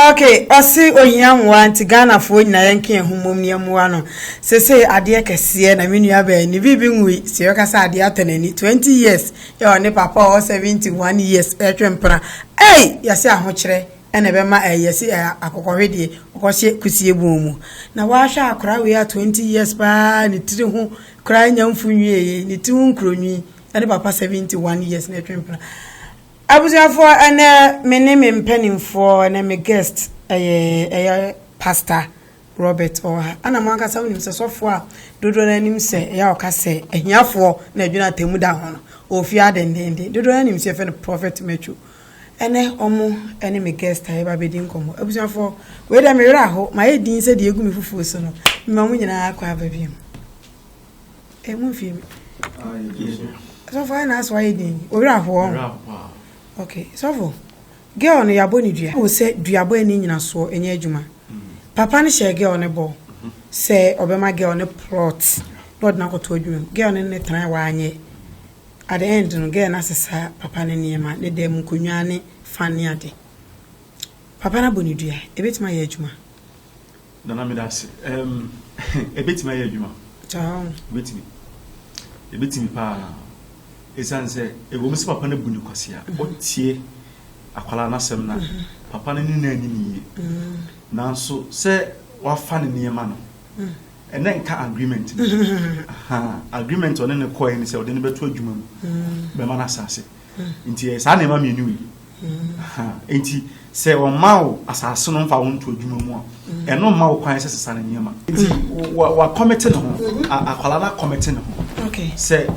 ok ɔse ohia mmoa nti ghanafoɔ nyinaa yɛnka yɛn ho mmom ne mmoa no sese adeɛ kɛseɛ na me nua bɛn ne biribi nwui sɛ yɛka sɛ adeɛ atɔ n'ani 20 years yɛ ɔne papa ɔwɔ 71 years ɛtwe mpena ei yɛse ahokyerɛ na ɛbɛma ɛyɛ se akokɔhwedeɛ ɔkɔhyɛ kusie bɔn mu na w'ahwɛ akora wei a 20 years paa ne tiri ho koraa nya mfu nwieɛ ne ti ho nkuronwi ne papa 71 years na ɛtwe mpena abusuafoɔ ɛnɛ me ne me mpanimfoɔ ɛnɛ me guest ɛyɛ ɛyɛ pastor Robert Ɔha ana mo ankasa wonim sɛ sɔfoɔ a dodoɔ no anim sɛ ɛyɛ a ɔka sɛ ahiafoɔ na adwene atamu da ho no ɔfie adendenden dodoɔ no anim sɛ yɛfɛ no prophet Matthew Ɛnɛ ɔmo ne me guest a yɛba abɛdi nkɔmmɔ. Abusuafoɔ, wei deɛ me werɛ aho, mayɛ din sɛ deɛ egu me fufuo so no, mema ɔmo nyinaa akɔ aba biom. Eh, mo mfie me. Sɔfo ayɛ n'aso ayɛ din, wo werɛ aho ɔho. Ok, sɔfo, girl no yɛabɔ ne dua. Wo sɛ duabɔ ɛni nyinasoɔ ɛnyɛ adwuma. Papa no hyɛɛ girl no bɔ sɛ ɔbɛma girl no plot na ɔde no akɔto adwuma mu. Girl no ne no tenae wanyɛ. At the end no, girl no asesa papa no nneɛma, ne dan mu nkonnwa ne fan ne ade. Papa no abɔ no dua. Ebetumi ayɛ adwuma? Nana, meda ase. Ɛm, ebetumi ayɛ adwuma. Taa. Ebetumi. Ebetumi paa. Esiane sɛ ɛwom sɛ papa no abu no kwasea, ɔtie akwadaa no asɛm na papa no ne no anni no yie. Nanso sɛ wafa ne nneɛma no, Ɛnɛ nka agreement no. Agreement ɔne ne kɔɛ ne sɛ ɔde ne bɛto adwuma mu bɛma no asase. Nti ɛyɛ saa nneɛma mmienu yi. Nti sɛ ɔma wo asase no mfa wo nto adwuma mu a, ɛno mma wo kwan sɛ sesa ne nneɛma. Nti wakɔmete ne ho, akwala no akɔmete ne ho. Sɛ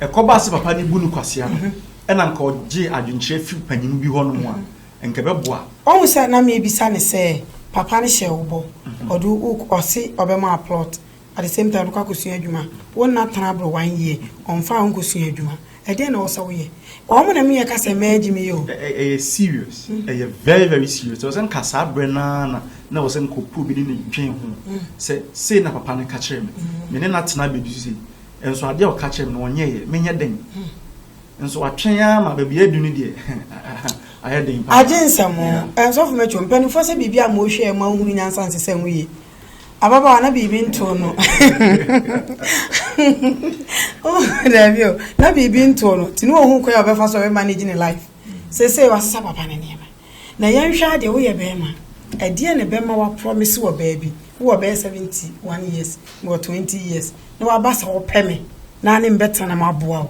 ɛkɔba sɛ papa no bu no kwasea no, ɛna nka ɔgye adwenkyerɛ fi panyin bi hɔ nom a, nka ɛbɛboa. Wahu sɛ na meebisa no sɛ papa no hyɛɛ wo bɔ, ɔde wo uk ɔse ɔbɛma wo plot at the same time ɔde kɔ akɔsua adwuma, wo nna tena boro one year ɔmfaa wo nkɔsua adwuma, ɛdeɛn na ɛwɔ sɛ woyɛ? Wɔn na meyɛ ka sɛ mɛɛ gye me yɛ o. Ɛyɛ serious, ɛyɛ very very serious, ɛwɔ sɛ nka saa berɛ no ara na na ɛwɔ sɛ nka ɔpɛ obi ne no dwen ho sɛ sei na papa no ka kyerɛɛ me, me ne no atena abɛduru sei nso adeɛ a ɔka kyerɛɛ me no ɔnyɛeɛ, menyɛ dɛn? Nso watwɛn ara ma baabi adu no deɛ ayɛ den paa. Agye nsɛm o. Yeah. Nsɔfo mɛtwo mpanimfoɔ sɛ biribi a ma ɔhwɛ ma ɔhunu nyansa nsesɛ ho yie. Ababaawa na biribi ntoo no. Daabi o, na biribi ntoo no. Nti ne ɔhu kwan a ɔbɛfa so a ɔbɛmanage ne life. Seesei wasesa papa ne nneɛma. Na yɛnhwɛ adeɛ woyɛ bɛrima. Ɛdeɛ na ɛbɛma waprɔmese wɔ baabi. Wowɔ bɛyɛ 71 years, mewɔ 20 years. Na waba sɛ wopɛ me na ne mbɛtena na maboa wo.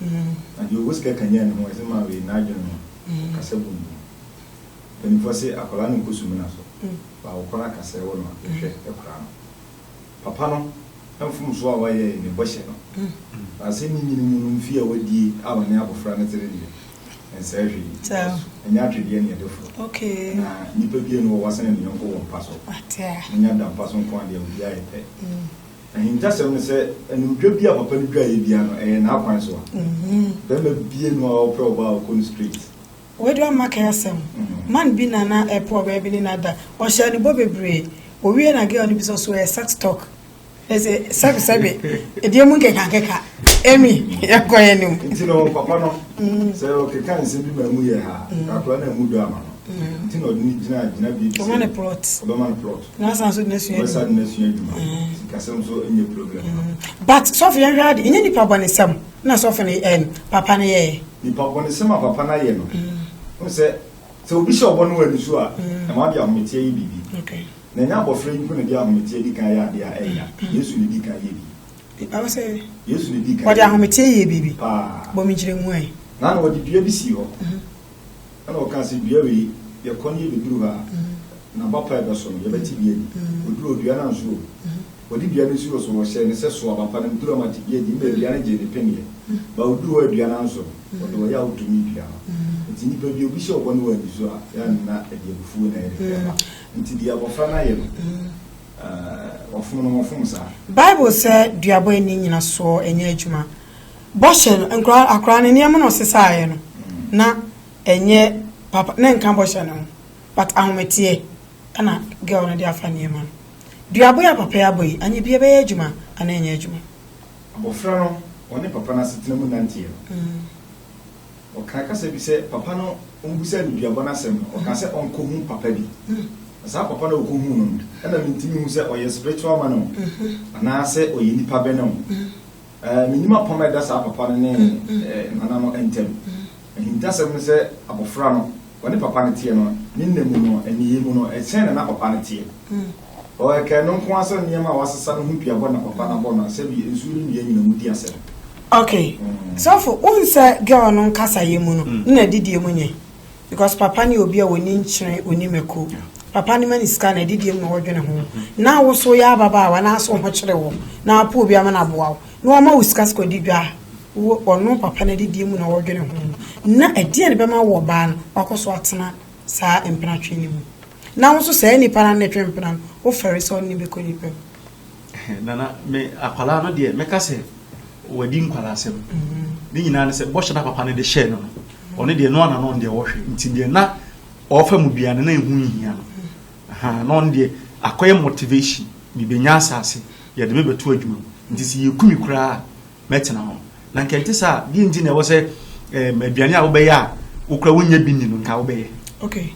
Na deɛ ɔwɔ sika kanyan ne ho ɛsɛ ma wei n'adwene no kasa bum bum. Mpanyinfoɔ se akwadaa no nkɔ sumina so but wo kɔn akasa ɛwɔ no a hwɛ ɛkora no. Papa no mfomsoɔ a wayɛ ɛyɛ ne bɔhyɛ no na asɛm yi nyini mu no mfeɛ a wadie a ɔne abɔfra no tere deɛ ɛnsɛɛ hwee because ɛnyɛ atwedeɛ na yɛde foro na nnipa bianu wɔ wɔsene ne yɔnko wɔ mpa so. Monya da mpa so nko a deɛ obiara yɛ pɛ. Ahintasɛm ne sɛ animdwa bi a papa no dwaeɛ biara no ɛyɛ n'akwan so a bɛrima bie no a ɔpɛ ɔbaa a ɔkɔ no straight. Wei deɛ ɔmma kɛ asɛm. Man bi na na ɛpɛ ɔbaa bi ne no ada. Ɔhyɛɛ no bɔ bebree. Ɔwie na girl no bisa ɔse ɔyɛ sex talk. Ɛsɛ sɛbe sɛbe. Ɛdeɛ mu nkeka nkeka. Amy yɛnkɔ yɛn anim. Nti no papa no sɛ ɔkeka nsɛm bi ma ɛmu yɛ haa kakra na ɛmu dɔ ama no. Nti na ɔde no gyina gyinabea bi sɛ ɔbɛma no plot. na san so na sua adwuma na sua adwuma sikasɛm so nyɛ problem mm-hmm. but sɔfo yɛn hwɛ ade nyɛ nipa bɔnesɛm na sɔfo no ɛm papa no yɛɛ nipa bɔnesɛm a papa no ayɛ no mm-hmm. sɛ sɛ obi hyɛ ɔbɔ no wɔ ani so a mm-hmm. ɛma de ahometeɛ yi biribi na ɛnyɛ abɔfra yi mpo na de ahometeɛ di kan yɛ adeɛ a ɛnya yesu ne di kan yɛ bi ɛwɔ sɛ yesu ne di kan ɔde ahometeɛ yɛ biribi paa bɔ me nkyerɛ mu ɛ na na ɔde dua bi si hɔ Ɛna ɔkaa sɛ, Dua wei, yɛkɔ no yɛbɛduru hɔ a, na bapa ɛbɛso no, yɛbɛte bi adi. Wɔduru hɔ, dua no anso o. Wɔde dua no sii hɔ so, wɔhyɛɛ no sɛ, Soa bapa no, duru a mate bi adi. Mmerɛ dua no gyee ne peneɛ, baa ɔduruu hɔ a dua no anso no, ɔde ɔyea wotomii dua no. Nti nnipa bi, obi hyɛ wo bɔne wɔ ani so a, yɛ a na ɛde abufuo na ɛyɛ de brɛ ba. Nti deɛ abɔfra no ayɛ no, wɔfom no, wɔfom saa. Bible sɛ, Duabɔ ani nnyina soɔ nyɛ adwuma. Bɔhyɛ no, nkora, akora no nneɛma na ɔsesaeɛ no, na ɛnyɛ papa, na ɛnka bɔhyɛ no ho, but ahometeɛ ɛna girl no de afa nneɛma no. Duaba yi a papa yi abɔ yi, anyɛ bi ɛbɛyɛ adwuma anaa ɛnyɛ adwuma? Abɔfra no, ɔne papa no asetena mu nanteɛ no, ɔkaa kasa bi sɛ papa no, wɔbisaa no duaba no asɛm no, ɔkaa sɛ ɔnkɔhu papa bi. Na saa papa no a ɔkɔhuu no no, ɛna mentumi nhu sɛ ɔyɛ spiritual man o, anaasɛ ɔyɛ nipa bɛn o. Minnim apam a ɛda saa papa no ne nana no ntam. Ahintasɛm ne sɛ abofra no, ɔne papa no teɛ no, ne nna mu no, nneyɛe mu no, sɛn na na papa no teɛ? Ɛkae no nko ara sɛ nneɛma a wɔasesa no ho dua bɔ na papa no abɔ no asɛ bi, nsu ne nnua nyinaa mu di asɛm. Okay, sɔfo, wohu sɛ girl no nkasaeɛ mu no, nna didie mu nyɛ? because papa no yɛ obi a ɔni nkyene, ɔni mako. Papa no ma ne sika na adidie mu na ɔdwene ho. Na wo so yɛ ababaawa na aso ho kyere wo na apo obi ama no aboa wo na ɔma wo sika sika ɔdi dwa a, wo ɔno papa no adidie mu na ɔdwene ho. Na ɛdeɛn na ɛbɛma wo ɔbaa no wakɔ so atena saa mpenatwe no mu? Na wo nso saa nipa no ano na ɛtwe mpena no, wofɛre sɛ ɔne no bɛkɔ nipa mu. Nana me akwadaa no deɛ mɛka sɛ wadi nkwadaa asɛm ne nyinaa ne sɛ bɔhyɛ na papa no de hyɛɛ no no ɔne deɛ no ana no deɛ ɔhwɛ nti deɛ na ɔfa mu bia no na ɛho nhia no na ɔno deɛ akɔyɛ motivation mebɛnya asase yɛde mebɛto adwuma mu nti sɛ yɛkumi koraa mɛtena hɔ na nka ɛnte sɛ a deɛ nti na ɛwɔ sɛ aduane a wobɛyɛ a wokora wonya bi ni no nka wobɛyɛ okay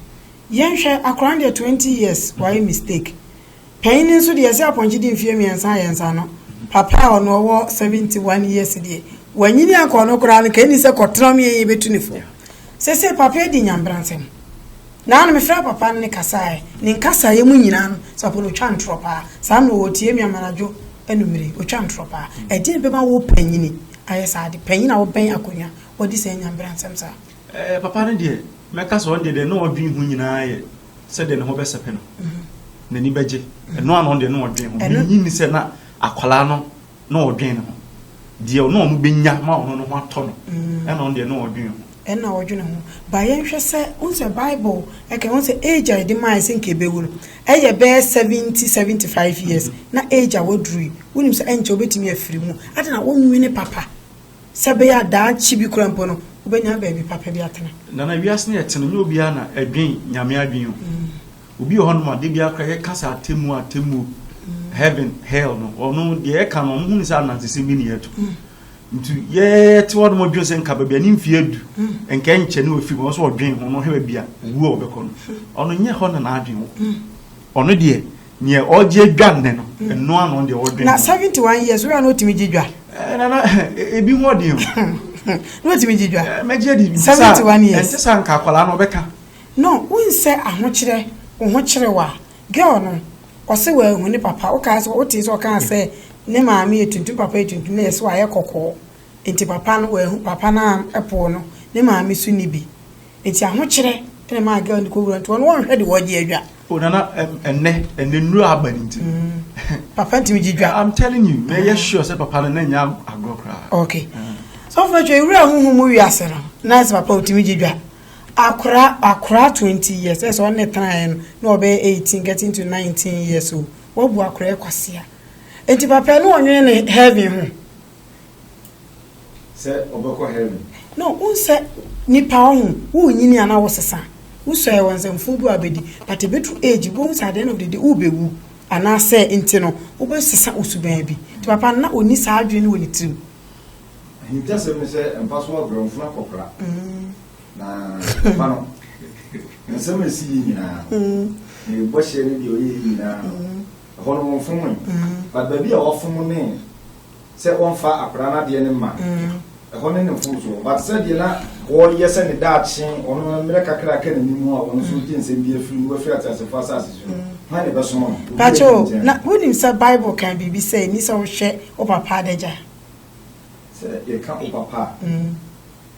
yɛnhwɛ akora no deɛ 20 years wayɛ mistake Panyin no nso deɛ ɛsɛ apɔnkye di mfeɛ mmiɛnsa ayɛ nsa ano. Papa a ɔno ɔwɔ 71 years deɛ, wanyini ankɔ ɔno koraa no, ka ɛnni sɛ kɔtena ɔmo yɛyɛ bɛtu ne fo. Sese papa adi nyambra nsɛm. Naa no mefrɛ papa no ne kasaɛ, ne nkasaeɛ mu nyinaa no, saa papa no ɔtwa ntorɔ paa. Saa mmerɛ ɔɔtie me amanadwo anumere, ɔtwa ntorɔ paa. Ɛdeɛn bɛma wo panyini ayɛ saa ade? Panyin a ɔbɛn akonwa, wadi saa nyambra nsɛm saa. Ɛɛ papa no deɛ, mɛka sɛ ɔno deɛ deɛ na ɔdwen ho nyinaa yɛ. sɛdeɛ ne ho bɛsɛpɛ no n'ani bɛgye ɛno a na ɔno deɛ na ɔdwen ho menyi ni sɛ na akwadaa no na ɔdwen ne ho deɛ ɔno ɔno bɛnya ma ɔno no ho atɔ no ɛna ɔno deɛ na ɔdwen ho ɛna ɔdwen ho ba yɛnhwɛ sɛ wohu sɛ bible ɛka ho sɛ age a ɛde maae sɛ nka ɛbɛwu no ɛyɛ bɛyɛ 70 75 years na age a waduru yi wonim sɛ ɛnkyɛ wobɛtumi afiri mu ade na wonwene papa Sɛ ɛbɛyɛ a daakye bi koraa mpo no, wobɛnya baabi papa bi atena. Nana, wiase no a yɛte no, nyɛ obiara na ɛdwen Nyame adwen o. Obi wɔ hɔnom a, da biara koraa yɛka sɛ atemmuo, atemmuo, heaven, hell no, ɔno deɛ yɛka no, ɔno hu no sɛ anansesɛm bi ne yɛto. Nti yɛte hɔnom dwen sɛ nka baabi a ne mfeɛ adu, nka ɛnkyɛ ne wafiri mu, ɔno nso ɔdwen ho na ɔhwɛ baabi a owuo a ɔbɛkɔ no. Ɔno nyɛ hɔ na n'adwen wɔ. Ɔno deɛ. Neɛ ɔgye dwa nnɛ no, ɛno ara na ɔno deɛ ɔdwen ho. Na seventy one years wura no otumi gye dwa? Ɛɛ nana ebi ho ɔden o. Na otumi gye dwa? Ɛɛ mɛgye adi. Seventy one years. Ɛnte sɛ anka akwadaa no ɔbɛka. No, wonsɛ ahokyerɛ, wo ho kyere wo a. Girl no, ɔse wanhu ne papa. Wokaa sɛ, wotee sɛ ɔkaa sɛ ne maame yɛ tuntum, papa yɛ tuntum na yɛse wayɛ kɔkɔɔ. Nti papa no wanhu, papa no ampoo no, ne maame nso nni bi. Enti ahokyerɛ na ɛmaa girl no kɔwura nti wɔn wɔnhwɛ de wɔgye adwa. O nana ɛnɛ ɛnɛ nnuro aba ne nti. Papa ntumi gye dwa. I'm telling you na ɛyɛ sure sɛ papa no na nya agorɔ koraa. Okay. So fún ɛtwa ewura huhu mu wiase no na ɛsɛ papa otumi gye dwa. Akora akora twenty years ɛsɛ ɔne tena yɛ no na ɔbɛyɛ eighteen getting to nineteen years o. Wabu akora ɛkwasea. Enti papa no ɔnwene ne heaven ho. sɛ ɔbɛkɔ heaven. No wohu sɛ nipa ɔho wo nyini ana wo sesa wo sɔɛ wɔ nsɛmfo bi a bɛdi but ɛbɛtru age wobɛhu sɛ at the end of the day wo bɛwu ana sɛ nti no wo bɛ sesa wo suban bi nti papa no na ɔni saa adwene no wɔ ne tirim. Ahintasɛm ne sɛ mpa so abrɛ mfunu akɔkora na papa no nsɛm a ɛsi yi nyinaa ne bɔhyɛ ne deɛ ɔyɛ yi nyinaa ɛhɔ no wɔmfom but baabi a wɔfom ne sɛ ɔmfa akwadaa no adeɛ no mma ɛhɔ ne ne fon so but sɛdeɛ na ɔreyɛ sɛ ne daakye ɔno mmerɛ kakra a ɛka n'anim a ɔno nso gye nsɛm bi afiri mu afiri ateasefoɔ asase so no hwan na ɛbɛsom no obi a Pacho, ɛdi nkyɛn na wonim sɛ Bible ka biribi sɛ ɛni sɛ wohwɛ wo papa adagya? sɛ yɛka wo papa a.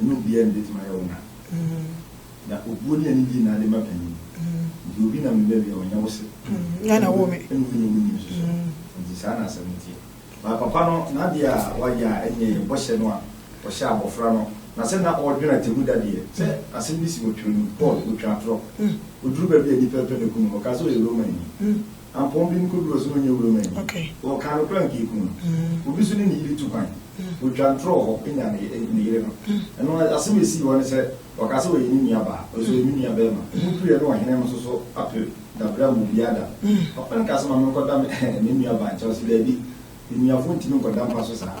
ɛne obiara na ebetumi ayɛ wɔn ade. Na obuo ne anigye na ade ma panyin. Nti obi nam ne baabi a ɔnyɛ wo se. Nya na wo me. Ɛne wo nyɛ wo nim nso so. Nti saa na asɛm no teɛ. Ba papa no n'ade a wayɛ a ɛnyɛ yɛn bɔhyɛ no a ɔhyɛɛ abɔfra no na sɛ na ɔredwene atemmuda deɛ, sɛ asɛm bi si wɔ Twerɛ no mu, Paul, ɔtwa atorɔ. Ɔduru baabi a nnipa repɛ no akum no, ɔka sɛ ɔyɛ Romani. Apɔn bi nkodu hɔ sɛ ɔnyɛ wuram anyi. Ɔka no koraa a anka ekum no. Obi nso ne ne yere tu kwan. Otwa ntorɔ wɔ hɔ nya ne yere no. Ɛno asɛm a esii hɔ ne sɛ, ɔka sɛ ɔyɛ ne nuabaa, ɔse ɔyɛ me nuabarima. Emu pire ne ɔhene no nso so apere dabere ama obiara da no. Papa no kaa sɛ, Ma menkɔda me nuabaa nkyɛn. Ɔse, Daabi, anuafoɔ ntumi nkɔda mpa so saa.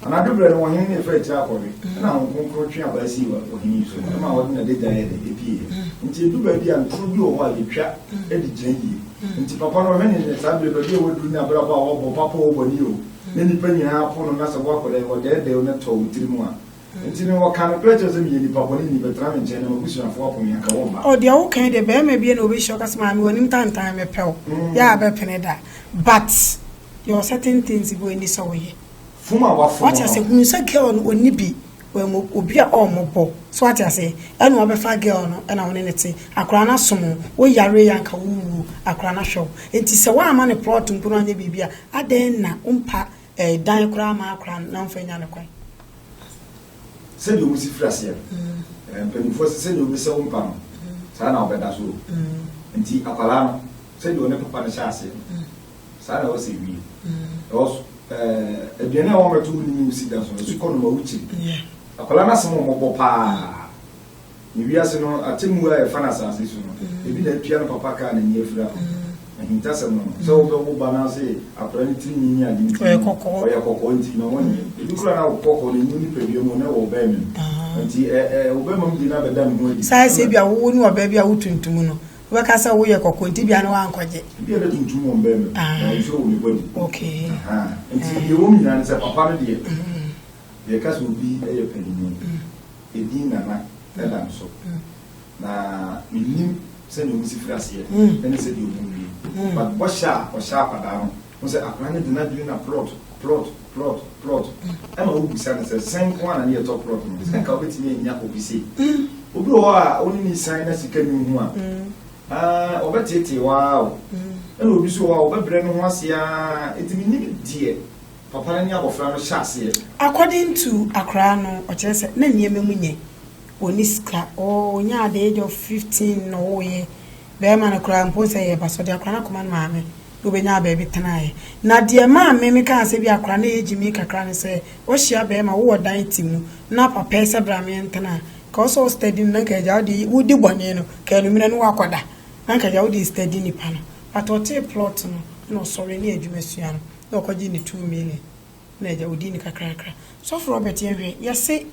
Anadwo berɛ no, ɔhene no faa akyire akɔwe, ɛnna Honhom Kronkron twe abaa sii ɔhene yi so, ɛmaa ɔde n'adagya yɛɛ dɛ, ɛpieeɛ. Enti ɛduru baabi a, ntoro bi wɔ hɔ a, yɛtwa de gyina yie. Enti papa no, ɔhene no, saa berɛ, baabi a waduru ne abrabɔ a wabɔ, papa oo, bɔne oo, na nnipa nyinaa po no, na sɛ woakɔ dɛ, ɔdɛɛdɛɛ wo na ɛtɔ wo tirim a, enti no, ɔkaa nokorɛ kyerɛɛ wo sɛ, meyɛ nnipa bɔne ni, bɛtena me nkyɛn na m'abusuafoɔ apo me, anka wɔmma. Oh, deɛ woka yi deɛ, barima bi na ɔbɛhyia ɔka sɛ, maame, w'anim tantan, mepɛ wo, yɛ a bɛpene da, but yɛwɔ certain things bi a ɛnni sɛ woyɛ. Fom a wafom no. Wate ase hunu sɛ girl no ɔnni bi wɔn obi a ɔmmɔ bɔ so wate ase ɛna wabɛfa girl no ɛna wɔne ne te akora no asom wo yare yɛ anka wo wuo akora no ahwɛ wo nti sɛ woama ne plot mpo no anyɛ biribi a adɛn na wompa eh, dan koraa ma akora no na womfa nya ne kwan sɛdeɛ ɔmu si firi aseɛ eh, mpanimfoɔ sɛ sɛdeɛ ɔmu sɛ wompa no saa na wɔbɛda so nti akwadaa no sɛdeɛ ɔne papa no hyɛ aseɛ no Saa na ɔsɛ wie. Because eh, aduane a wɔbɛto wo nini wo sika so no so kɔ no ma wokyiri. Akwadaa no asɛm ɔmɔbɔ paa. Ne wiase no atemmu a yɛfa no asase so no, mm. ebi na atua no papa kaa n'ani afira no. Mm. Ahintasɛm no sɛ wobɛwo ba no ase akwadaa no tiri nyinyi ade nti ɔyɛ kɔkɔɔ nti na wɔnyɛ. Mm. Ebi kura na kɔkɔɔ no enyi nipadua mu na ɛwɔ ɔbɛn mu. Nti ɛ ɛ ɔbɛn mu de na bɛda ne ho adi. Saa ɛsɛ bi a wowo ne ɔbɛn bi a wotuntum no. Wobɛka sɛ woyɛ kɔkɔɔ nti bia na wankɔgye. Ebi a na tuntum wɔ mbɛn mu. Ah. Wɔn nso wɔ mi bɔ di. Okay. Nti deɛ wɔn nyinaa ne sɛ papa no deɛ. Deɛ ɛka sɛ obi yɛ panyin. Edin nana ɛda no so. Na menim sɛdeɛ wɔn si firi aseɛ. Ɛne sɛdeɛ wɔn wie. But bɔhyɛ a ɔhyɛ akwadaa no. Hu sɛ akwadaa no de n'adwene na plot, plot, plot, plot. Ɛma wobisa no sɛ, Sɛn nko ara na ne yɛ tɔ plot no? Sɛ anka wobɛtumi anya obi sei. Obi wɔ hɔ a, wo ne no san na sika nni wo ho a, aah, ɔbɛteetee wo ara o. Ɛna obi nso wɔ hɔ a, ɔbɛbrɛ ne ho ase ara. Enti mennim deɛ papa no ne abɔfra no hyɛ aseɛ. According to akwadaa no, ɔkyerɛ sɛ na nneɛma mu nyɛ. Ɔnni sika. Ɔnyaa the age of fifteen na ɔwoeɛ. Bɛɛma no koraa mpo sɛ yɛɛba so ɔde akora no akɔma ne maame na ɔbɛnyaa baabi tenaeɛ. Na deɛ maa me me kaa sɛ bi akora no yɛ gyimii kakra ne sɛ wahyia bɛɛma wo wɔ dan ti mu na papa yi sɛ bra me ntena a nka ɔsɛ ɔ study no na nka agya wode wo di bɔne no ka anummerɛ no wakɔda na nka agya wode study nipa no but ɔtee plot no na ɔsɔre ne adwuma sua no na ɔkɔgye ne two million. Na agya odi ni kakrakra. Sɔfo Robert yɛn hwɛ yɛse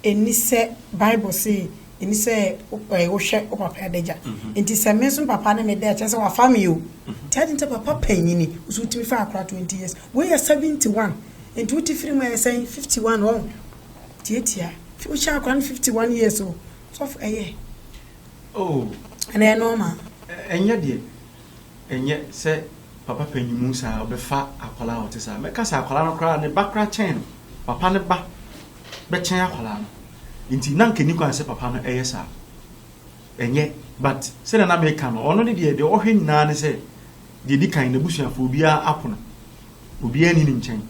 ɛni sɛ bible se ɛni sɛ wo hwɛ wo papa adagya nti sɛ me nso me papa ne me da ɛkyɛ sɛ wafa me o nti adi nti papa panyini nso wotumi fa akora 20 years wei yɛ 71 nti wote firi mu ɛyɛ sɛn 51 wɔn tiatia wohyɛ akora no 51 years o sɔfo ɛyɛ oh ɛnɛ ɛnɔɔma ɛnyɛ deɛ Ɛnyɛ sɛ papa panyin mu saa a ɔbɛfa akwadaa a ɔte saa. Mɛka sɛ akwadaa no koraa, ne ba koraa kyɛn no. Papa no ba bɛkyɛn akwadaa no. Nti na anka ɛnni kwan sɛ papa no yɛ saa. Ɛnyɛ. But sɛdeɛ na meka no, ɔno ne deɛ, deɛ ɔhwɛ nyinaa ne sɛ, deɛ ɛdi kan, n'abusuafoɔ, obiara apono. Obiara nni ne nkyɛn.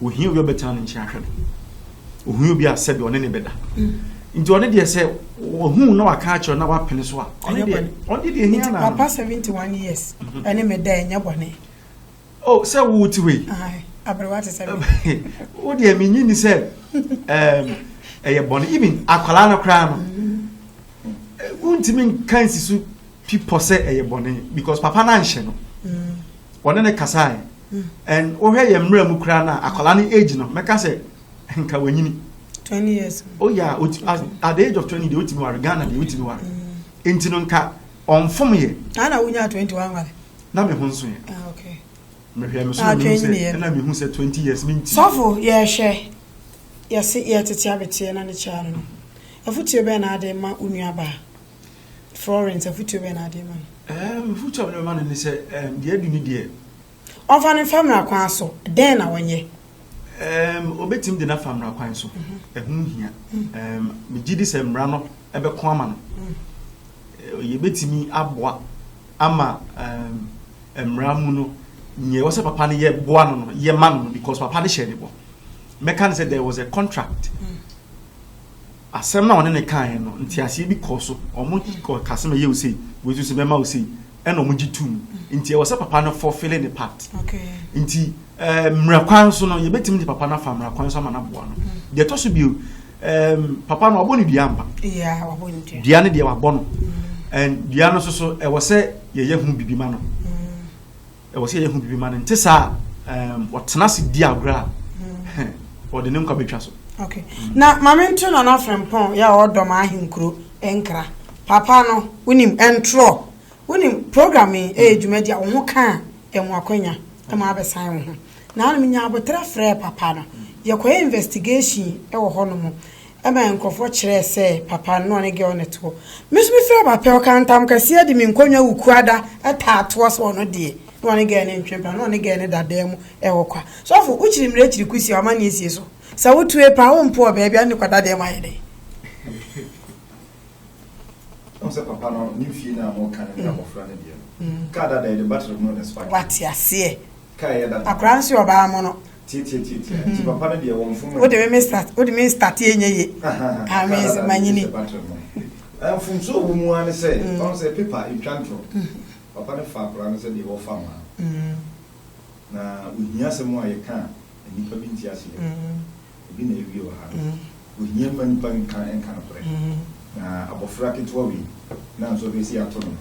Ohia obi a ɔbɛtena ne nkyɛn ahwɛ no. Ohia obi a sɛdeɛ ɔne ne bɛda. Nti ɔne deɛ sɛ wahu na waka akyerɛ na wapene so a, ɔne deɛ ɔne deɛ hia na. Nti papa seventy one years mhm. ɛne me da ɛnyɛ bɔne. Oh sɛ wo ti wei. Aberewa te sɛ mi. Wo deɛ mi nyi ni sɛ ɛyɛ bɔne even akwadaa no koraa no. Mhm. Wontumi nka nsi so. fi pɔ sɛ ɛyɛ bɔne because papa no anhyɛ no ɔne ne kasae and wohwɛ yɛ mmerɛ mu koraa no a akwadaa no age no mɛka sɛ nka wanyini oh yeah at the age of 20 deɛ wotumi ware Ghana deɛ wotumi ware nti no nka ɔmfom yɛ na wonya 20 wanware na me ho nso yɛ ah, mehwɛ me so ah, mehu sɛ ɛna mehu sɛ 20 years menti sɔfo yɛhwɛ yɛse yɛtete abeteɛ na ne kyɛare no afotuo bɛɛ na ade ma wo nuabaa Florence, afotuo bɛn na wode ma no? Ɛɛm, afotuo a mede bɛma no ne sɛ, ɛɛm, deɛ adi ne deɛ. Ɔmfa no mfa mmara kwan so, dɛn na ɔnyɛ? Ɛɛm, ɔbɛtumi de no afa mmara kwan so, ɛho nhia. Ɛɛm, megye di sɛ mmara no bɛko ama no. Ɛɛ, yɛbɛtumi aboa ama, ɛɛm, mmara mu no, nea ɛwɔ sɛ papa no yɛ boa no no, yɛma no no because papa no hyɛɛ ne bɔ. Mɛka no sɛ there was a contract. Asɛm no a ɔne no kaeɛ no, nteaseɛ bi kɔɔ so. Wɔgye kɔɔ ka sɛ mɛyɛ wo sei, wei nso sɛ mɛma wo sei, ɛna wɔgye to mu. Nti ɛwɔ sɛ papa no fulfille ne part. Nti ɛɛ mmara kwan so no, yɛbɛtumi de papa no afa mmara kwan so ama no aboa no. Deɛ ɛtɔ so bio, ɛɛm papa no wabɔ ne dua ampa. Dua no deɛ wabɔ no. Ɛn dua no nso so ɛwɔ sɛ yɛyɛ ho biribi ma no. Ɛwɔ sɛ yɛhu biribi ma no nte saa a ɔtena ase di agorɔ a ɔde ne nkwa bɛtwa so. Okay. Na Maame Nto Nana Frempɔn yɛ a ɔdɔ ma ahenkuro nkra. Papa no, wonim, ɛntorɔ. Wonim, program yi ɛyɛ dwumadi a wo ho ka a, ɛmu akwanya ma abɛsan wo ho. Naanom nyaa aboterɛ frɛɛ papa no. Yɛkɔyɛ investigation wɔ hɔnom. Ɛma nkurɔfoɔ kyerɛɛ sɛ papa no na ɔne girl no toɔ. Me nso me frɛɛ Bapɛ, ɔkaa ntam kɛseɛ de me nkonnwa wukuada taa toɔ sɛ ɔno deɛ na ɔne girl no ntwe mpena, na ɔne girl no da dan mu wɔ kwa. Sɔfo, wokyiri mmara kyiri kosi a w'amanneɛ sie so. Sɛ wotue paa, wompo wɔ baabi a, na ne kwadadeɛ mu ayɛ dɛ. Ɔn sɛ papa no ne fie no a moka no ne abɔfra no deɛ no. Kaa dada yɛde battery mono na spark. Wate aseɛ. Kaa ɛyɛ dada. Akwadaa nso yɛ ɔbaa mono. Tiatiatiatia. Nti papa no deɛ wɔmfom no. Wode me me start wode me start ɛnyɛ ye. Kaa dada no manyini. Hyɛ battery mono. Mfomsoɔ wɔ mu ara ne sɛ ɔn sɛ paper ntwa ntorɔ. Papa no fa akwadaa no sɛdeɛ wɔfa mmaa no. Na ohia asɛm a yɛka a nnipa bi nte aseɛ. Ebi na ewie wɔ ha no. Ohia mma nnipa nka nka nokorɛ. Na abɔfra ketewa wei, na nso ɔbɛsi ato no.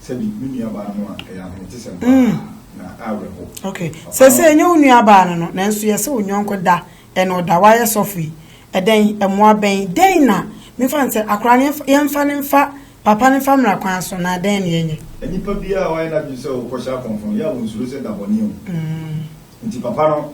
Sɛbi, me nuabaa no a, ɛyɛ ahometesɛm pa ara, na awerɛhoɔ. Ok, seesei ɛnyɛ wo nuabaa no no, nanso yɛse wo nyɔnko da, ɛna ɔda, wayɛ sɔfo yi. Ɛdɛn, mmoa bɛn, dɛn na, memfa no sɛ, akwadaa no, yɛmfa, yɛmfa no mfa, papa no mfa mmra kwan so, na dɛn na yɛnyɛ? Nipa biara a wayɛ n'adwene sɛ ɔrekɔhyɛ akɔmfo no, yɛ a wɔnsuro sɛ dabɔne o. Enti papa no,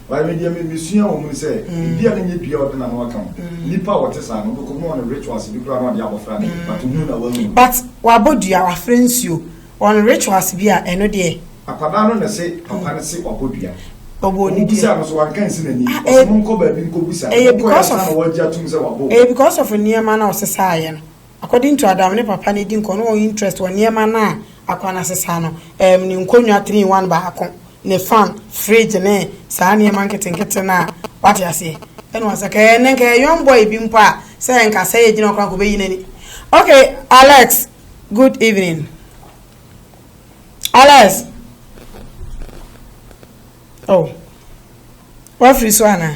But me deɛ me me sua wɔ mu ne sɛ ebia ne nyɛ dua a ɔde n'ano aka ho nipa a ɔte saa no ɔbɛkɔ mu na ɔne rituals bi koraa na ɔde abɔfra no but ohun na wahu no. But wabɔ dua wafra nsuo ɔne rituals bi a ɛno deɛ. Akwadaa no na ɛse papa no se wabɔ dua. Ɔbɔ ne dua. Ɔmo busaa no so wanka nsi n'ani. Ah, Ɔse eh, mo nkɔ baabi nkɔ busa. Ɛyɛ Ɔkɔɛ because ansa of na wɔagye atum sɛ wabɔ. ɛyɛ because of nneɛma na ɔsesaeɛ no. According to Adam ne papa no edi nkɔ no wɔn interest wɔ nneɛma no a akoa no asesa no ɛɛm ne nkonnwa three in one baako ne fan fridge ne saa nneɛma nketenkete no a wate aseɛ ɛna wɔn asaka ɛɛ nɛ nka ɛyɛ young boy bi mpo a sɛ nka sɛ yɛ gyina hɔ koraa nka ɔbɛyi n'ani ok Alex good evening Alex oh wafiri so anaa.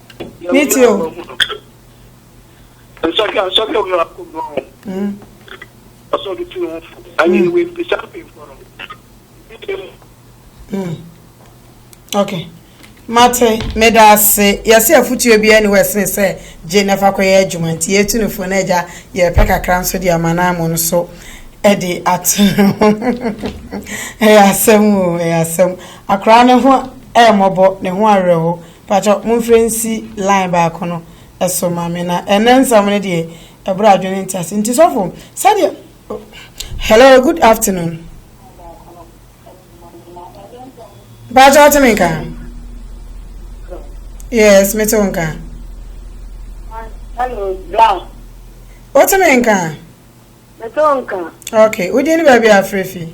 Ne ti o. Nsɔhwɛ nsɔhwɛ omi wa ko bɔn. Ɔsɔ ɔde tu ne ho fo. Anyi ne wei bisa mpemfo no. Okay. Mate, meda ase. Yɛsɛ afotuo bi ɛne wɔsene sɛ gye na fa kɔyɛ adwuma nti yɛtu no fo na agya yɛpɛ kakra nso de ama no amu no so ɛde ato no ho. Ɛyɛ asɛm o, ɛyɛ asɛm. Akora ne ho ɛmmɔbɔ, ne ho awerɛho. Pakyɛw monfrɛ nsi line baako no so ma me na ɛnɛ nsɛm no deɛ ɛboro adwene ntease nti sɔfo sɛdeɛ Hello good afternoon Pakyɛw wote me nka Yes mete wo nka Hello Brown wote me nka Mete wo nka Okay wodin ne baabi a afrɛ fi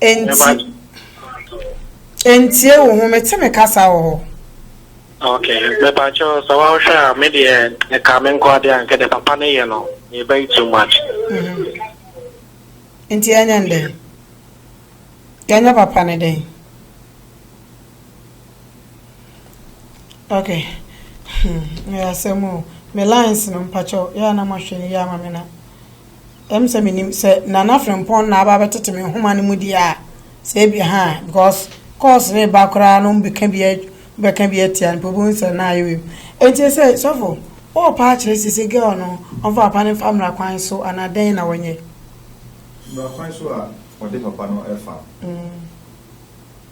Enti, entie wo ho, mete me kasa wɔ hɔ. Okay, mepakyɛ sɛ wohwɛ a me deɛ ɛka me nko adeɛ a nka deɛ papa no yɛ no yɛbɛyi too much mm-hmm. nti ɛnyɛ n dɛn yɛnyɛ papa no dɛn okay hmm, yɛ asɛm o me lines no mpakyɛw yɛ a na mahwɛ no yɛ ama me na Ɛwom sɛ menim sɛ Nana Frimpong na aba abɛtete me nhoma no mu deɛ a, sɛ ebia ha a, because calls reba koraa na wɔbɛka bi bɛka bi atia no, wobɛhu sɛ na ayɛ wim. Enti sɛ sɔfo, wowɔ paa kyerɛ sisi girl no, ɔmfa papa no mfa mmara kwan so anaa dɛn na wɔnyɛ? Mmara kwan so a wɔde papa no fa.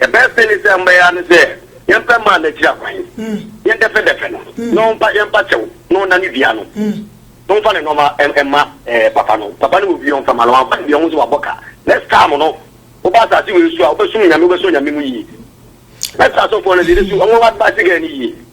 Yɛbɛpɛ ne sɛ mbɛyɛ ara ne sɛ yɛmpɛ mmaa n'akyiri akwan, yɛndɛfɛdɛfɛ no, na ɔmpa yɛmpa kyɛw, na ɔnna ne dua no, na ɔmfa ne nnoɔma mma papa no. Papa no wɔ bi a ɔmfa mma no, wamfa no deɛ ɔhu sɛ wabɔ ka. Next time no, woba asase wei so a, wobɛsom Nyame, wobɛsɔ Nyame mu yie. Mɛsrɛ asɔfoɔ no deɛ, yɛbɛsu wɔn advice girl no yie.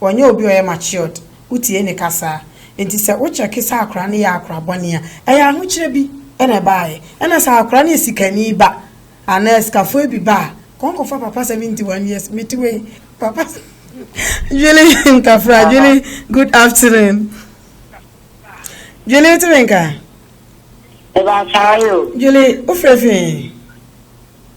ɔnyɛ obi a ɔyɛ matured, wotie ne kasa a, enti sɛ wo check sɛ akwadaa no yɛ akwadaa bɔne a, ɛyɛ ahokyerɛ bi na ɛbaeɛ. Ɛna sɛ akwadaa no yɛ sikani ba anaa asikafoɔ bi ba a, kɔ nkɔfa papa 71 years mete wei papa Dwele Ntafra, Dwele good afternoon. Dwele wote me nka? Ɛbaa saa yɛ o. Dwele wofrɛ fi he?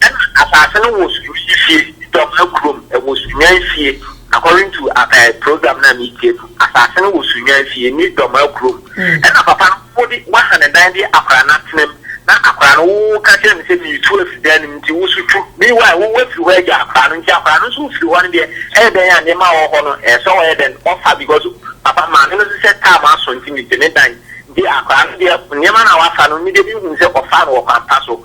Ɛna asaase no wɔ sunyani fie dɔm na kurom ɛwɔ sunyan fie according to ɛɛ program na me tie no asaase no wɔ sunyan fie ne dɔm a kurom ɛna papa no wo de wa ha ne dan de akora no atena mu na akora no wo wo ka kyerɛ no sɛ me tu afiri dan no mu nti wo so tu me why wo wa firi hɔ agya akora no nti akora no nso wo firi hɔ no deɛ ɛyɛ dɛn a nneɛma a wɔ hɔ no ɛɛ sɛ ɔyɛ dɛn ɔfa because papa maame no nso sɛ time aso nti me gye me dan nti akora no deɛ nneɛma no a wa fa no me deɛ me hu sɛ ɔfa no wɔ kwan pa so.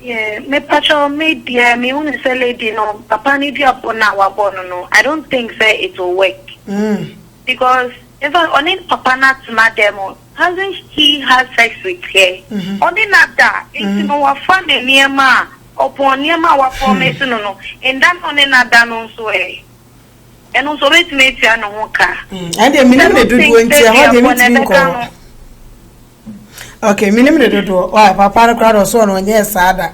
Yeah me pakyɛ me deɛ me hunu sɛ lady no papa no dua bɔ no a wabɔ no no I don't think sɛ it will work because in fact ɔne papa no atena dɛm mo hasn't he had sex with her ɔne no ada nti no wafa ne nneɛma a ɔpɔn nneɛma a wa promise no no nda na ɔne no ada no nso ɛ ɛno nso ɔbɛtumi atua ne ho ka ɛdeɛ menim ne dodoɔ nti ɛhɔ deɛ metumi nkɔɔ. Okay, minim ne dodoɔ. Why, papa no koraa na ɔsɔɔ no ɔnyɛɛ saa da.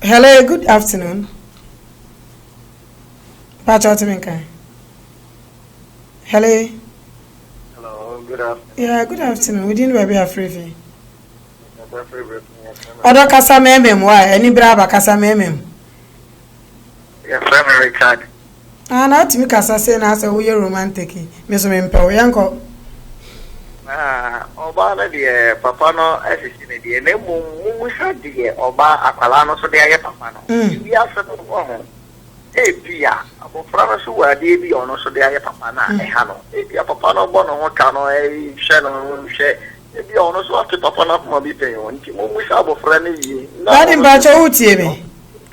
Hello, good afternoon. Pacha ɔte me nka. Hello. Hello, good afternoon. Yeah, good afternoon. Wodi ni baabi afiri fi. Ɔdɔ kasa mɛmɛm wa, ɛni bere aba kasa mɛmɛm. Yɛfrɛ me Richard. Ah na atumi kasa se na asɛ woyɛ romantiki me so mempɛ wo yɛnkɔ. Ah ɔbaa no deɛ papa no asisi no deɛ na mmom momusa deɛ ɔbaa akwadaa no so de ayɛ papa no mm. wiase no wɔ ho ebi a abɔfra no so wɔ adeɛ bi a ɔno so de ayɛ papa no a mm. ɛha no ebi a papa no bɔ ne ho ka no ɛhwɛ no hwɛ ebi a ɔno so ate papa no akoma bi pɛn o nti momusa abɔfra no yie. Dade mpakyɛ wotie me.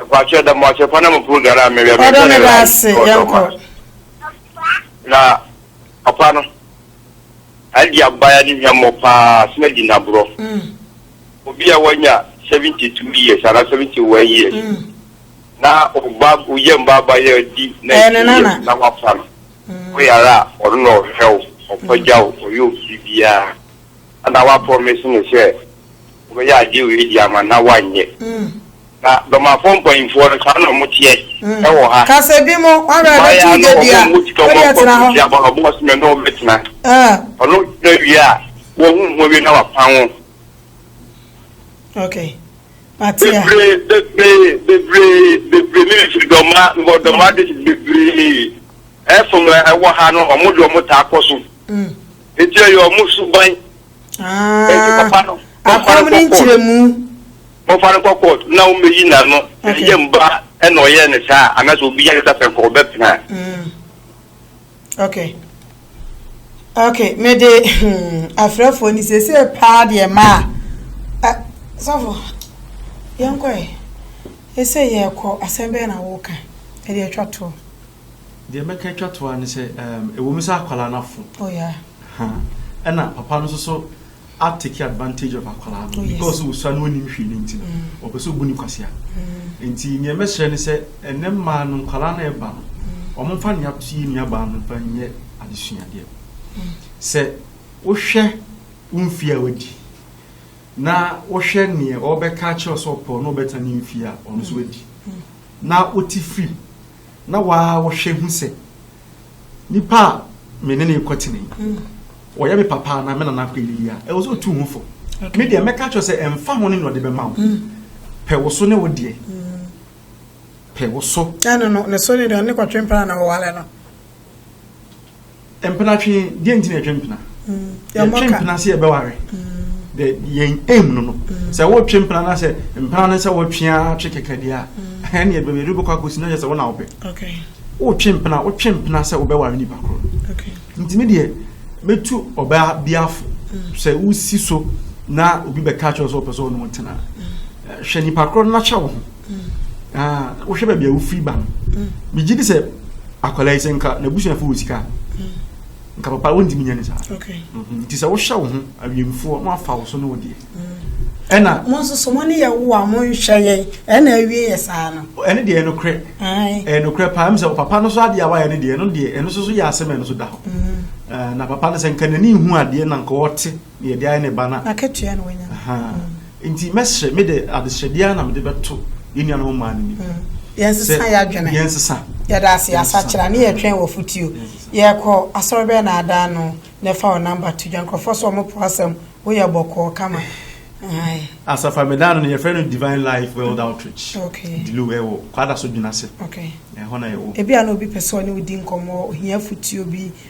Nkwakyɛ da mo ase pa na mo program a mewɛ me sɛ ne rise ɔdɔ ma na papa no adi abaya ne hwɛ mmɔ paa sena di naborɔ obi a wanya 72 years ana 71 years na ɔba oyɛ mbaaba yɛ di na ɛdi yɛ na wafa no oyara a ɔno na ɔhwɛ wo ɔpagya wo ɔyɛ obi biara Ana wɔaprɔmise no sɛ wɔbɛyɛ adeɛ wei de ama no na wɔanyɛ? Na Bɛmafoɔ mpanyimfoɔ no, saa na wɔteɛ wɔ ha. Mmayeaa no, wɔmmɔ sika, wɔmmɔ nkɔso ntia ba no, wɔbɔ se me ne wo mmɛtena. Ɔno ɔtena wie a, wɔahunu ho awie na wɔapan wo. Bebree, bebree, bebree, bebree, me mefiri Dɔmma, mewɔ Dɔmma district, bebree, ɛfom a ɛwɔ ha no, wɔn de wɔtaa kɔ so. Eti ɛyɛ ɔmo suban. Eti Ah, papa no, momfa no akɔm ne nkɔ court. nkyerɛmu. Momfa no nkɔ court na ɔmmɛyi n'ano. Okay. Ɛyɛ mma ɛna ɔyɛɛ no saa a, anaasɛ obi yare sɛ pɛnkɔ ɔbɛpene a. Mm. Okay. Okay, mede hmm, afrɛfoɔ ni seesei paa deɛ maa ɛ- sɔfo yɛnkɔ ɛ ɛsɛ yɛkɔ asɛm bɛɛ na woka ɛde atwa toɔ Deɛ mɛka atwa to ara ne sɛ um, ɛwom sɛ akwadaa no afo. Oh yeah. Ha. Ɛna papa no nso so a take advantage of akwadaa no oh, yes. because wosua no onim hwee no nti no mm. ɔpɛ sɛ ɔbu ne kwasea. Mm. Nti nea mɛsrɛ ne sɛ ɛnɛ mmaa no nkwadaa no ɛba no wɔn mm. mfa nea to yɛ nuabaa no mfa nyɛ adesuadeɛ. Mm. Sɛ wohwɛ wo mfie a wadi na wohwɛ neɛ ɔbɛka akyerɛ sɛ ɔpɛ ɔno ɔbɛtena ne mfie a ɔno nso wadi mm. na wote firi Na wo ara wohwɛ hu sɛ, nipa a me ne no rekɔtena yi, ɔyɛ me papa anaa me nana akɔ adidi a, ɛwɔ sɛ ɔtu ho fo. Me deɛ, mɛka akyerɛ sɛ ɛmfa ho ne nea ɔde bɛma wo. Pɛ wo so ne wo deɛ. Pɛ wo so. Ɛno no, ne so ne deɛ ɔne kɔtwe mpena na ɔware no. Mpena twe deɛ nti na yɛtwe mpena yɛtwe mpena sɛ yɛbɛware the yɛn aim no no sɛ wotwe mpena na sɛ mpena no sɛ wotwe a twe kɛkɛ deɛ a ɛne ɛde bɛbɛ ɛdubɛkɔ akɔsi na yɛ sɛ wona wopɛ wotwe mpena wotwe mpena sɛ wobɛware nipa korɔ nti me deɛ mɛtu ɔbaa biafo sɛ wosi so na obi bɛka kyerɛ sɛ wopɛ sɛ ɔne wo tena hwɛ nipa korɔ no na hyɛ wo ho ah, wohwɛ baabi a wofiri ba no megye di sɛ akwadaa yi sɛ nka n'abusuafo wɔ sika nka papa wontumi nyɛ ne saa mhm. nti sɛ wohyɛ wo ho awiemfoɔ na wafa wo so ne wo deɛ mm. ɛna mo nso so mo ne yɛ wo a monhwɛ yɛn ɛna awie yɛ saa no ɛne deɛ ɛnokorɛ ɛnokorɛ paa m sɛ papa no so adeɛ a wayɛ ne deɛ ɛno deɛ ɛno so so yɛ asɛm ɛno so da hɔ mm. na papa no sɛ nka n'ani hu adeɛ na nka ɔte Deɛ ɛde ayɛ ne ba na. N'akatua na wanya. Nti mɛsrɛ me de adesrɛ biara na mede bɛto yɛn nuanom mmaa no nim. Yɛnsesa yɛn adwene. Yɛnsesa. Yɛda ase asakyera ne yɛtwɛn wɔ fotuo. Yɛkɔ asɔre bɛyɛ na ada ano na ɛfa wɔ namba to dwa nkurɔfoɔ sɛ wɔn po asɛm woyɛ bɔkɔɔ kama. Asafa meda no no yɛfrɛ no Divine Life World Outreach. Okay. Dilu ɛwɔ kwada so dwena se. Okay. Ɛhɔ na yɛwɔ. Ebi a na obi pɛ sɛ ɔne wo di nkɔmmɔ ohia fotuo bi.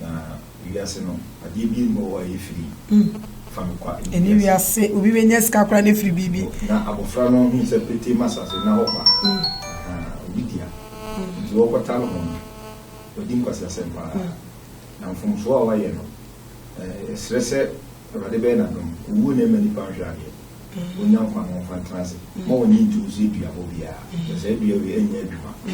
Na wiase no, adeɛ bi nni hɔ a ɛyɛ firi. Mm. Fa me kwa ɛne Ɛne wiase. wiase, obi bɛnya sika koraa na afiri biribi. No, na abɔfra no hui sɛ petee ma asase nna hɔ kwa. Mm. Ahaa, obi dea. Nti wɔkɔta no ho no, wadi nkwaseasɛm paa. Na mfomsoɔ a wayɛ no, eh, yɛsrɛ sɛ Awurade bɛyɛ n'adom, owuo na ɛma nnipa nhwɛ adeɛ. ɔnya nkwa na ɔmfa ntena ase. Mma w'ani nntu wo so dua hɔ biara, na saa dua wei anyɛ adwuma a,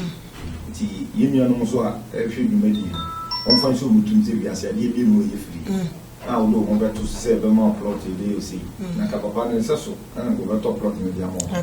nti yɛn nuanom nso a ɛrehwɛ dwumadi yi no, wɔmfa nhyɛ wɔn tirim sɛ wiase adeɛ mmienu a ɛyɛ firi a wode wo ho bɛto so sɛ ɛbɛma wo plɔt yi bɛyɛ wo sei, na ka papa no nsɛso na anka ɔbɛtɔ plɔt no de ama wo.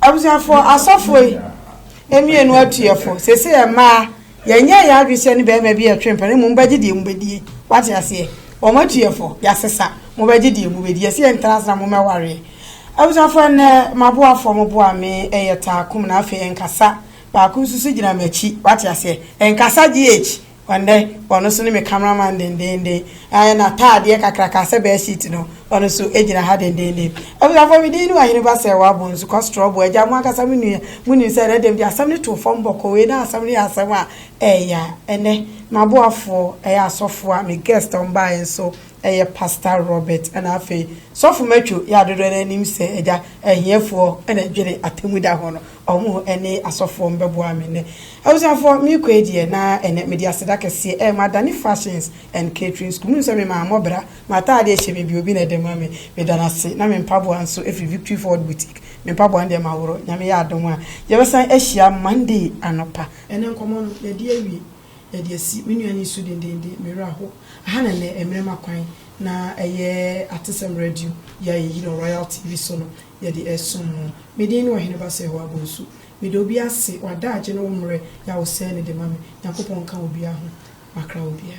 Abusuafo, asɔfo yi mmienu atuyɛfo, sese yɛ mmaa, yɛnyɛ yɛ adwene sɛ ne bɛrima bi yɛtwe mpɛn, mmom bɛgye deɛ mu bɛdie. Wate aseɛ? Wɔn atuyɛfo, yɛasesa, mo bɛgye deɛ mu bɛdie. Ɛsɛ yɛ ntena sena mo mɛwareɛ. Abusuafo, ɛnɛ maboafoɔ mo boa me, ɛyɛ taakum na afei ɛnkasa. Baako nso so gyina m'akyi, wate aseɛ? Ɛnkasa GH. Ɛnnɛ, ɔno nso ne me cameraman dendeenden. Ɛɛ, n'ataadeɛ kakraka sɛ bedsheet no, ɔno nso gyina ha dendeenden. Abusuafoɔ, me din ne Wahene Ba Sɛɛwa Bonsu, Kɔstrɔbo agya. Mo ankasa mo nua, monim sɛ ɛnnɛ da mu deɛ, asɛm no too fam bɔkɔɔ. Wei ne asɛm no yɛ asɛm a ɛyɛ ya. Ɛnnɛ, m'aboafoɔ yɛ asɔfoɔ a me guest a wɔbaeɛ nso yɛ Pastor Robert. Ɛnna afei, Sɔfo Matthew yɛ a dodoɔ no ara nim sɛ agya, ahiafoɔ na ɛdwene atemmuda ho no. Ɔmo ne asɔfoɔ no bɛboa me nnɛ. Abusuafoɔ, me kɔ yi deɛ na ɛnɛ mede aseda kɛseɛ ɛɛ madane fashions and catering school. Monim sɛ me maa mɔ bra, m'ataadeɛ hyɛ me bi obi na ɛde ma me. Meda no ase. Na me mpaboa nso ɛfiri Victory Forward Boutique. Me mpaboa no deɛ maworɔ. Nyame yɛ adom a, yɛbɛsan ahyia Monday anɔpa. Ɛnɛ nkɔmmɔ no yɛadi awie. Yɛde asi. Me nua no resu dendeenden. Me werɛ aho. Aha na ɛnnɛ mmerɛ ma kwan na ɛyɛ Atesɛm Radio yi a yɛyi no Royal TV so no. Yɛde ɛsom no. Me din ne Ɔhene Bassey Howah Bonsu. Meda obi ase, wada agye ne wo mmerɛ yɛ a wo sɛɛ no de ma me. Nyankopɔn nka obia ho. Makra obia.